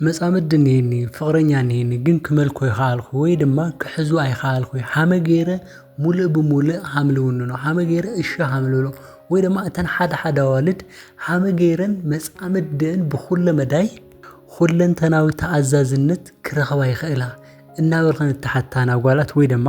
መጻምዲ እንሄኒ ፍቕረኛ እንሄኒ ግን ክመልኮ ይኸኣልኩ ወይ ድማ ክሕዙ ኣይኸኣልኩ ሓመ ገይረ ሙልእ ብሙልእ ሃም ልውንኖ ሓመ ገይረ እሺ ሃም ልብሎ ወይ ድማ እተን ሓደ ሓደ ኣዋልድ ሓመ ገይረን መጻምድን ብኹለ መዳይ ኹለንተናዊ ተኣዛዝነት ክረኽባ ይኽእላ እናበልኸን እተሓታና ጓላት ወይ ድማ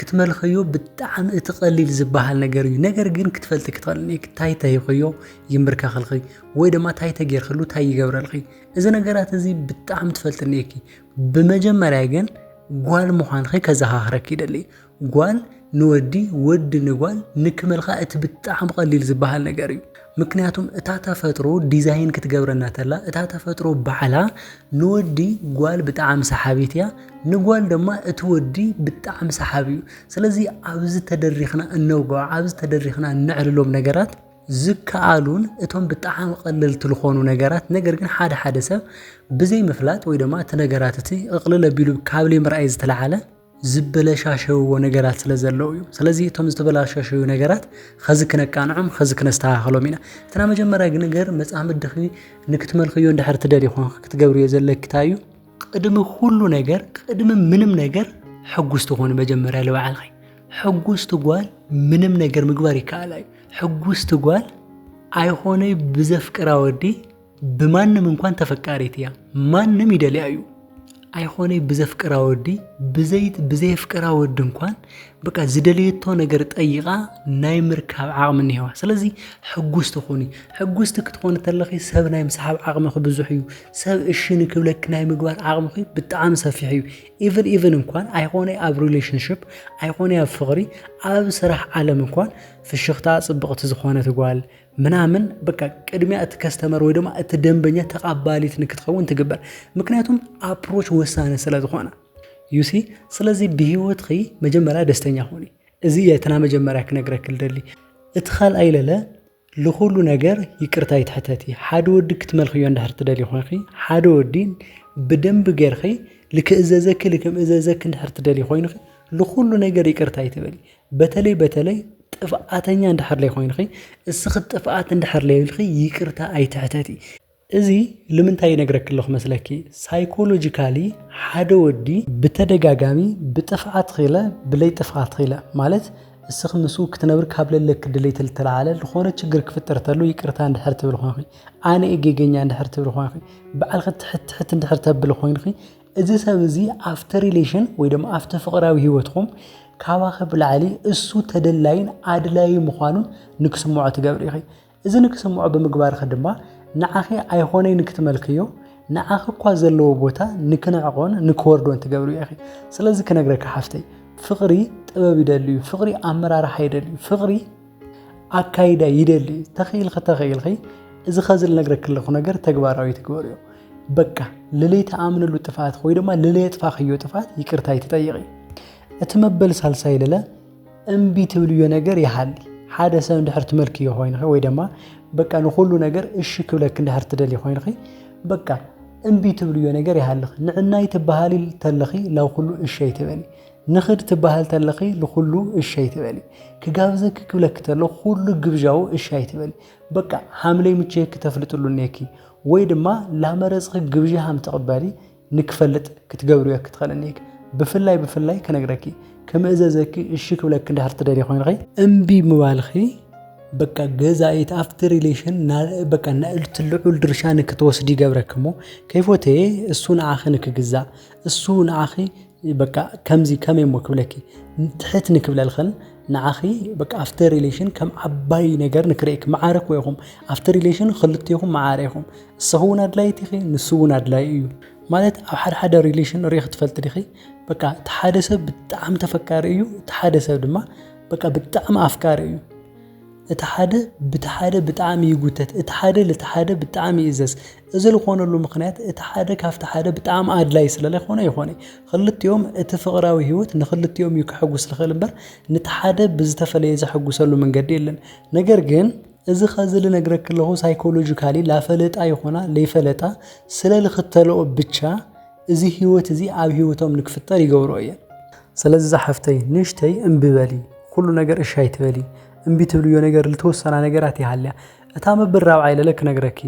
ክትመልኸዮ ብጣዕሚ እቲ ቀሊል ዝበሃል ነገር እዩ ነገር ግን ክትፈልጢ ክትኸልኒ ታይ ተሂኸዮ ይምብርከኸልኺ ወይ ድማ ታይ ተጌርክሉ ታይ ይገብረልኺ እዚ ነገራት እዚ ብጣዕሚ ትፈልጥኒ እኪ ብመጀመርያ ግን ጓል ምዃንኺ ከዘኻኽረኪ ይደሊ ጓል ንወዲ ወዲ ንጓል ንክመልካ እቲ ብጣዕሚ ቀሊል ዝበሃል ነገር እዩ ምክንያቱም እታ ተፈጥሮ ዲዛይን ክትገብረና ተላ እታ ተፈጥሮ ባዕላ ንወዲ ጓል ብጣዕሚ ሰሓቢት እያ ንጓል ድማ እቲ ወዲ ብጣዕሚ ሰሓቢ እዩ ስለዚ ኣብዚ ተደሪኽና እነውግዖ ኣብዚ ተደሪኽና እነዕልሎም ነገራት ዝከኣሉን እቶም ብጣዕሚ ቐለልቲ ልኾኑ ነገራት ነገር ግን ሓደ ሓደ ሰብ ብዘይምፍላጥ ወይ ድማ እቲ ነገራት እቲ እቕልል ኣቢሉ ካብ ለይምርኣይ ዝተልዓለ ዝበለሻሸውዎ ነገራት ስለ ዘለዉ እዩ። ስለዚ እቶም ዝተበላሻሸዩ ነገራት ኸዚ ክነቃንዖም ኸዚ ክነስተኻኸሎም ኢና። እቲ ናይ መጀመርያ ግን ነገር መጻምድኺ ንክትመልኽዮ እንድሕር ትደልዪ ኾንኺ ክትገብርዮ ዘለኪ ታይ እዩ? ቅድሚ ኹሉ ነገር ቅድሚ ምንም ነገር ሕጉስቲ ኹኒ መጀመርያ ልባዕልኺ። ሕጉስቲ ጓል ምንም ነገር ምግባር ይከኣላ እዩ። ሕጉስቲ ጓል ኣይኾነይ ብዘፍቅራ ወዲ፣ ብማንም እንኳን ተፈቃሪት እያ ማንም ይደልያ እዩ ኣይኾነይ ብዘፍቅራ ወዲ ብዘይት ብዘየፍቅራ ወዲ እንኳን በቃ ዝደለየቶ ነገር ጠይቃ ናይ ምርካብ ዓቕሚ እኒሄዋ ስለዚ ሕጉስቲ ኹኒ ሕጉስቲ ክትኾኒ ተለኺ ሰብ ናይ ምስሓብ ዓቕምኺ ብዙሕ እዩ ሰብ እሺ ንክብለኪ ናይ ምግባር ዓቕምኺ ብጣዕሚ ሰፊሕ እዩ ኢቨን ኢቨን እንኳን ኣይኾነ ኣብ ሪሌሽንሽፕ ኣይኾነ ኣብ ፍቕሪ ኣብ ስራሕ ዓለም እንኳን ፍሽኽታ ፅብቕቲ ዝኾነት ጓል ምናምን በቃ ቅድሚያ እቲ ከስተመር ወይ ድማ እቲ ደንበኛ ተቃባሊት ንክትኸውን ትግበር ምክንያቱም ኣፕሮች ወሳነ ስለ ዝኾነ ዩሲ ስለዚ ብሂወትኺ መጀመርያ ደስተኛ ኾኒ እዚ የትና መጀመርያ ክነግረክ ደሊ እቲ ካልኣይ ለለ ልኹሉ ነገር ይቅርታ ይትሕተቲ ሓደ ወዲ ክትመልኽዮ እንዳህር ትደሊ ኾንኺ ሓደ ወዲ ብደንብ ገርኺ ልክእዘዘኪ ልክምእዘዘኪ እንድሕር ትደሊ ኮይንኺ ልኹሉ ነገር ይቅርታ ይትበሊ በተለይ በተለይ ጥፍኣተኛ እንድሕር ለይኮይንኺ እስኺ ጥፍኣት እንድሕር ለይብልኺ ይቅርታ ኣይትሕተቲ። እዚ ልምንታይ ይነግረኪ ኣለኹ መስለኪ ሳይኮሎጂካሊ ሓደ ወዲ ብተደጋጋሚ ብጥፍኣትኺለ ብለይ ጥፍኣትኺለ ማለት እስኺ ምስኡ ክትነብሪ ካብ ለለኪ ድሌት ልተልዓለ ልኾነ ችግር ክፍጠር ተሎ ይቅርታ እንድሕር ትብሊ ኾይንኺ ኣነ እየ ጌገኛ እንድሕር ትብሊ ኾይንኺ ባዕልኺ ትሕት ትሕት እንድሕር ተብሊ ኾይንኺ እዚ ሰብ እዚ ኣብቲ ሪሌሽን ወይ ድማ ኣብቲ ፍቕራዊ ህይወትኩም ካባኺ ብላዕሊ እሱ ተደላይን ኣድላዩ ምዃኑ ንክስምዖ ትገብሪ ኢኺ። እዚ ንክስምዖ ብምግባርኺ ድማ ንዓኺ ኣይኾነይ ንክትመልክዮ ንዓኺ እኳ ዘለዎ ቦታ ንክንዕቆን ንክወርዶን ትገብሪ ኢኺ። ስለዚ ክነግረኪ ሓፍተይ ፍቕሪ ጥበብ ይደልዩ ፍቕሪ ኣመራርሓ ይደልዩ ፍቕሪ ኣካይዳ ይደሊ እዩ ተኽኢልኺ ተኽኢልኺ እዚ ኸዚ ልነግረኪ ኣለኹ ነገር ተግባራዊ ትግበርዮ በቃ ልለይ ተኣምንሉ ጥፍኣት ወይ ድማ ልለይ የጥፋኽዮ ጥፍኣት ይቅርታ ይትጠይቂ እቲ መበል ሳልሳይ ልለ እምቢ ትብልዮ ነገር ይሃሊ ሓደ ሰብ እንድሕር ትመልክዮ ኮይንኺ ወይ ድማ በቃ ንኹሉ ነገር እሺ ክብለኪ እንድሕር ትደልይ ኮይንኺ በቃ እምቢ ትብልዮ ነገር ይሃልኺ ንዕናይ ትበሃሊ ተለኺ ላብ ኩሉ እሺ ኣይትበሊ ንኽድ ትበሃል ተለኺ ንኹሉ እሺ ኣይትበሊ። ክጋብዘኪ ክብለኪ ተሎ ኩሉ ግብዣኡ እሺ ኣይትበሊ። በቃ ሃምለይ ምቸየኪ ተፍልጥሉ እኔኪ ወይ ድማ ላመረጽኺ ግብዣ ሃም ትቕበሊ ንክፈልጥ ክትገብርዮ ክትኸል እኔኪ። ብፍላይ ብፍላይ ክነግረኪ ክምእዘዘኪ እሺ ክብለኪ እንድሕር ትደልዪ ኮይንኺ። እምቢ ምባልኺ በቃ ገዛኢት ኣብቲ ሪሌሽን ና በቃ ናእልቲ ልዑል ድርሻ ንክትወስዲ ይገብረኪ እሞ ከይፎተየ እሱ ንዓኺ ንክግዛእ እሱ ንዓኺ በቃ ከምዚ ከመይ እሞ ክብለኪ ትሕት ንክብለልኽን ንዓኺ በቃ ኣብቲ ሪሌሽን ከም ዓባይ ነገር ንክርእክ መዓረ እኮ ኢኹም ኣብቲ ሪሌሽን ክልቴኹም መዓረ ኢኹም እሰኹ እውን ኣድላይት ኢኺ ንሱ እውን ኣድላይ እዩ ማለት ኣብ ሓደ ሓደ ሪሌሽን ሪኢኽ ትፈልጥ ዲኺ በቃ እቲ ሓደ ሰብ ብጣዕሚ ተፈካሪ እዩ እቲ ሓደ ሰብ ድማ በቃ ብጣዕሚ ኣፍቃሪ እዩ እቲ ሓደ ብቲ ሓደ ብጣዕሚ ይጉተት እቲ ሓደ ልቲ ሓደ ብጣዕሚ ይእዘዝ እዚ ልኾነሉ ምኽንያት እቲ ሓደ ካብቲ ሓደ ብጣዕሚ ኣድላይ ስለ ለይኾነ ይኾነ ኽልቲኦም እቲ ፍቕራዊ ህይወት ንኽልቲኦም እዩ ከሐጉስ ልኽእል እምበር ንቲ ሓደ ብዝተፈለየ ዘሐጉሰሉ መንገዲ የለን ነገር ግን እዚ ኸዚ ልነግረኪ ለኹ ሳይኮሎጅካሊ ላፈለጣ ይኾና ለይፈለጣ ስለ ልኽተልኦ ብቻ እዚ ህይወት እዚ ኣብ ህይወቶም ንክፍጠር ይገብርኦ እየን። ስለዚ ዛሓፍተይ ንእሽተይ እምቢ በሊ ኩሉ ነገር እሺ ኣይትበሊ እምቢ ትብልዮ ነገር ልተወሰና ነገራት ይሃልያ እታ መብል ራብዓይ ለለ ክነግረኪ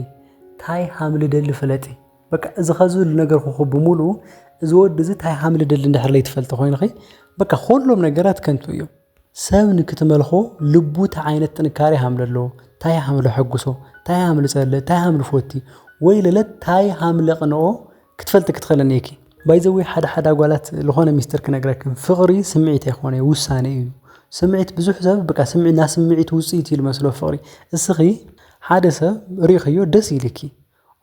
ታይ ሃም ልደሊ ፍለጢ በቃ እዚ ከዚ ልነገርኩኩ ብምሉኡ እዚ ወዲ እዚ ታይ ሃም ልደሊ እንድሕር ለይትፈልጢ ኮይንኺ በቃ ኩሎም ነገራት ከንቱ እዮም። ሰብ ንክትመልኮ ልቡ ታይ ዓይነት ጥንካሬ ሃም ለለዎ ታይ ሃም ለሐጉሶ ታይ ሃም ልጸልእ ታይ ሃም ልፎቲ ወይ ለለ ታይ ሃም ለቅንኦ ክትፈልጢ ክትክእሊ እኒኢኪ። ባይ ዘ ዌይ ሓደ ሓደ ኣጓላት ልኾነ ሚስጥር ክነግረክን ፍቅሪ ስምዒት ኣይኮነይ ውሳኔ እዩ ስምዒት ብዙሕ ሰብ ብቃ ስምዒት ናስምዒት ውጽኢት እዩ ልመስሎ ፍቅሪ እስኺ ሓደ ሰብ ሪኢኽዮ ደስ ኢሊኪ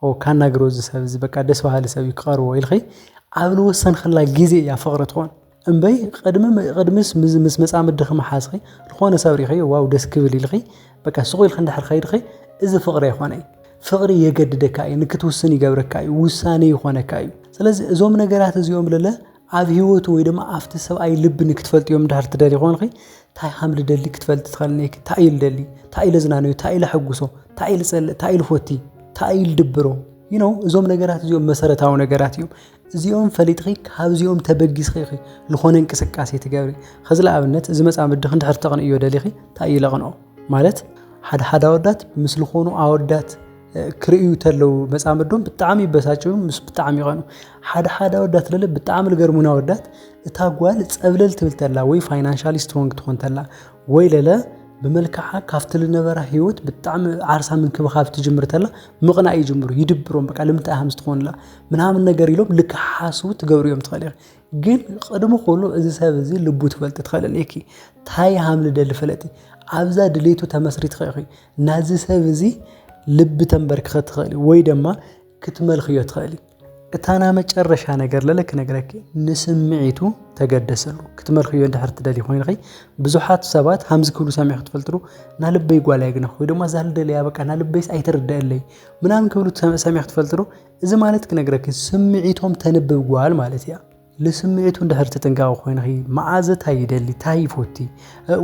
ኦው ካናግሮ እዚ ሰብ እዚ በቃ ደስ በሃሊ ሰብ እዩ ክቐርቦ ኢልኺ ኣብ ዝወሰንክላ ግዜ እያ ፍቕሪ ትኾን እምበይ ቕድሚ ቕድሚስ ምስ መፃምድኺ ምሓዝኺ ዝኾነ ሰብ ሪኺ ዋው ደስ ክብል ኢልኺ በቃ ስቑ ኢልኺ እንድሕር ከይድኺ እዚ ፍቕሪ ኣይኾነይ ፍቕሪ የገድደካ እዩ ንክትውስን ይገብረካ እዩ ውሳኔ ይኾነካ እዩ ስለዚ እዞም ነገራት እዚኦም ለለ ኣብ ሂወቱ ወይ ድማ ኣብቲ ሰብኣይ ልቢ ንክትፈልጥዮ እንድሕር ትደልዪ ኮንኺ ታይ ሃም ልደሊ ክትፈልጢ ትኸል እኔኪ ታይ እዩ ልደሊ ታይ እዩ ለዝናንዮ ታይ እዩ ለሐጉሶ ታይ እዩ ልፀልእ ታይ እዩ ልፎቲ ታይ እዩ ልድብሮ you know እዞም ነገራት እዚኦም መሰረታዊ ነገራት እዮም እዚኦም ፈሊጥኺ ካብዚኦም ተበጊስኺ ኢኺ ዝኾነ እንቅስቃሴ ትገብሪ ኸዚ ለኣብነት እዚ መፃምድኺ እንድሕር ተቕንእዮ ደሊኺ ታይ እዩ ለቕንኦ ማለት ሓድሓድ ኣወዳት ምስ ልኾኑ ኣወዳት ክርእዩ ተለው መጻምዶም ብጣዕሚ ይበሳጭው ምስ ብጣዕሚ ይቐኑ ሓደ ሓደ ኣወዳት ለለ ብጣዕሚ ልገርሙና ኣወዳት እታ ጓል ጸብለል ትብል ተላ ወይ ፋይናንሻሊ ስትሮንግ ትኾን ተላ ወይ ለለ ብመልክዓ ካብቲ ልነበራ ህይወት ብጣዕሚ ዓርሳ ምንክብኻብ ትጅምር ተላ ምቕናእ ይጅምሩ ይድብሮም በቃ ልምንታይ ሃምስ ትኾንላ ምናምን ነገር ኢሎም ልክሓስቡ ትገብሩ እዮም ትኸእል ኢኺ ግን ቅድሚ ኩሉ እዚ ሰብ እዚ ልቡ ትፈልጢ ትኸእል እኔኪ ታይ ሃምልደሊ ፈለጢ ኣብዛ ድሌቱ ተመስሪትኸ ኢኺ ናዚ ሰብ እዚ ልቢ ተንበርክኸ ትኸእሊ ወይ ደማ ክትመልክዮ ትኸእሊ እታ ና መጨረሻ ነገር ለለክ ነገረኪ ንስምዒቱ ተገደሰሉ ክትመልክዮ እንድሕር ትደሊ ኮይንኺ ብዙሓት ሰባት ሃምዚ ክብሉ ሰሚዕ ክትፈልጥሩ ና ልበይ ጓል ኣይግነኽ ወይ ድማ ዛል ደለያ በቃ ና ልበይስ ኣይተርደአለይ ምናምን ክብሉ ሰሚዕ ክትፈልጥሩ እዚ ማለት ክነግረኪ ስምዒቶም ተንብብ ጓል ማለት እያ ልስምዒቱ እንድሕር ተጠንቃቂ ኮይንኺ መዓዘ እንታይ ይደሊ እንታይ ይፎቲ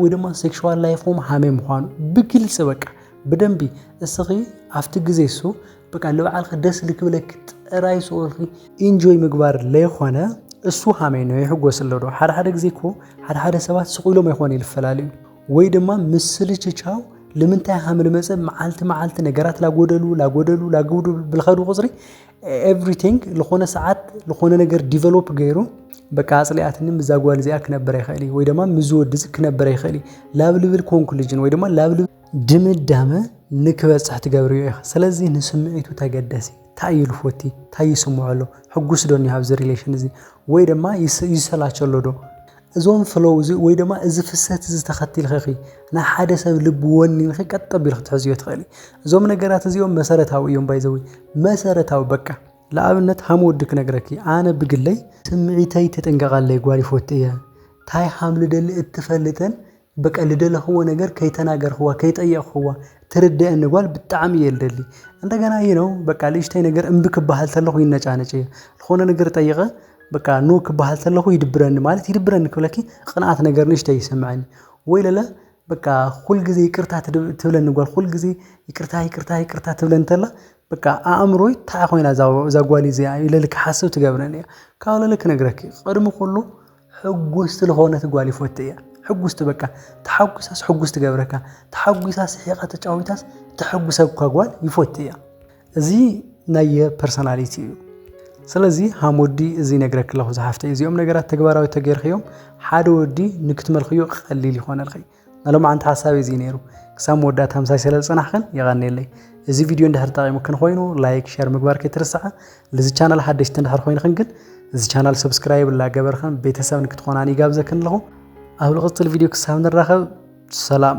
ወይ ድማ ሴክሽዋል ላይፎም ሃመይ ምዃኑ ብግልፂ በቃ ብደንቢ እስኺ ኣብቲ ግዜ እሱ በቃ ልበዓልኺ ደስ ልክብለኪ ጥራይ ስኦልኺ ኢንጆይ ምግባር ለይኮነ እሱ ሃመይ ነው ይሕጎስ ኣለዶ ሓደ ሓደ ግዜ እኮ ሓደ ሓደ ሰባት ስቑኢሎም ኣይኮነ ይልፈላለዩ ወይ ድማ ምስልችቻው ልምንታይ ሃምል መፀ መዓልቲ መዓልቲ ነገራት ላጎደሉ ላጎደሉ ላግውዱ ብልኸዱ ቁፅሪ ኤቭሪቲንግ ዝኾነ ሰዓት ዝኾነ ነገር ዲቨሎፕ ገይሩ በቃ ኣፅሊኣትኒ ምዛ ጓል እዚኣ ክነብር ይኽእል እዩ ወይ ድማ ምዚ ወዲ እዚ ክነብር ይኽእል እዩ ላብ ልብል ኮንክሉዥን ወይ ድማ ላብ ልብል ድምዳመ ንክበፅሕ ትገብርዮ ኢኻ ስለዚ ንስምዒቱ ተገደሲ ታይ እዩ ልፎቲ ታይ ይስምዖ ኣሎ ሕጉስ ዶ እኒሃ ኣብዚ ሪሌሽን እዚ ወይ ድማ ይሰላቸሎ ዶ እዞም ፍሎው እዚ ወይ ድማ እዚ ፍሰት እዚ ተኸቲልኺ ናይ ሓደ ሰብ ልቢ ወኒንኺ ቀጥ ኣቢልኺ ትሕዝዮ ትኽእሊ። እዞም ነገራት እዚኦም መሰረታዊ እዮም ባይዘዊ መሰረታዊ በቃ ንኣብነት ሃም ወዲ ክነግረኪ ኣነ ብግለይ ስምዒተይ ተጠንቀቃለይ ጓል ይፎቲ እየ ታይ ሃም ልደሊ እትፈልጥን በቃ ልደለኽዎ ነገር ከይተናገርኽዋ ከይጠየቕኽዋ ትርደአኒ ጓል ብጣዕሚ እየ ልደሊ እንደገና እዩ ነው በቃ ልእሽተይ ነገር እምቢ ክበሃል ተለኹ ይነጫነጭ እየ ዝኾነ ነገር ጠይቐ በቃ ኖ ክበሃል ተለኹ ይድብረኒ ማለት ይድብረኒ ክብለኪ ቅንኣት ነገር ንእሽተይ ይሰምዐኒ ወይ ለለ በቃ ኩል ግዜ ይቅርታ ትብለኒ ጓል ኩል ግዜ ይቅርታ ይቅርታ ይቅርታ ትብለኒ ተላ በቃ ኣእምሮይ ታይ ኮይና እዛ ጓል እዚኣ ኢለ ክሓስብ ትገብረኒ እያ ካብ ለለ ክነግረኪ ቅድሚ ኩሉ ሕጉስቲ ልኾነት ጓል ይፎቲ እያ ሕጉስቲ በቃ ተሓጒሳስ ሕጉስ ትገብረካ ተሓጒሳ ስሒቃ ተጫዊታስ ተሕጉሰካ ጓል ይፎቲ እያ እዚ ናየ ፐርሶናሊቲ እዩ ስለዚ ሃም ወዲ እዚ ነግረክ ኣለኹ ዝሓፍተይ እዚኦም ነገራት ተግባራዊ ተገይርክዮም ሓደ ወዲ ንክትመልክዮ ቀሊል ይኾነልኺ ናይ ሎማዓንቲ ሓሳበይ እዚ ነይሩ ክሳብ መወዳእታ ምሳይ ስለ ዝጸናሕክን የቐንየለይ። እዚ ቪድዮ እንድሕር ጠቒሙክን ኾይኑ ላይክ ሸር ምግባር ከይትርስዓ ልዚ ቻናል ሓደሽቲ እንድሕር ኾይንክን ግን እዚ ቻናል ሰብስክራይብ ላገበርክን ቤተሰብ ንክትኾናን ይጋብዘክን ኣለኹ ኣብ ልቕጽል ቪድዮ ክሳብ ንራኸብ ሰላም።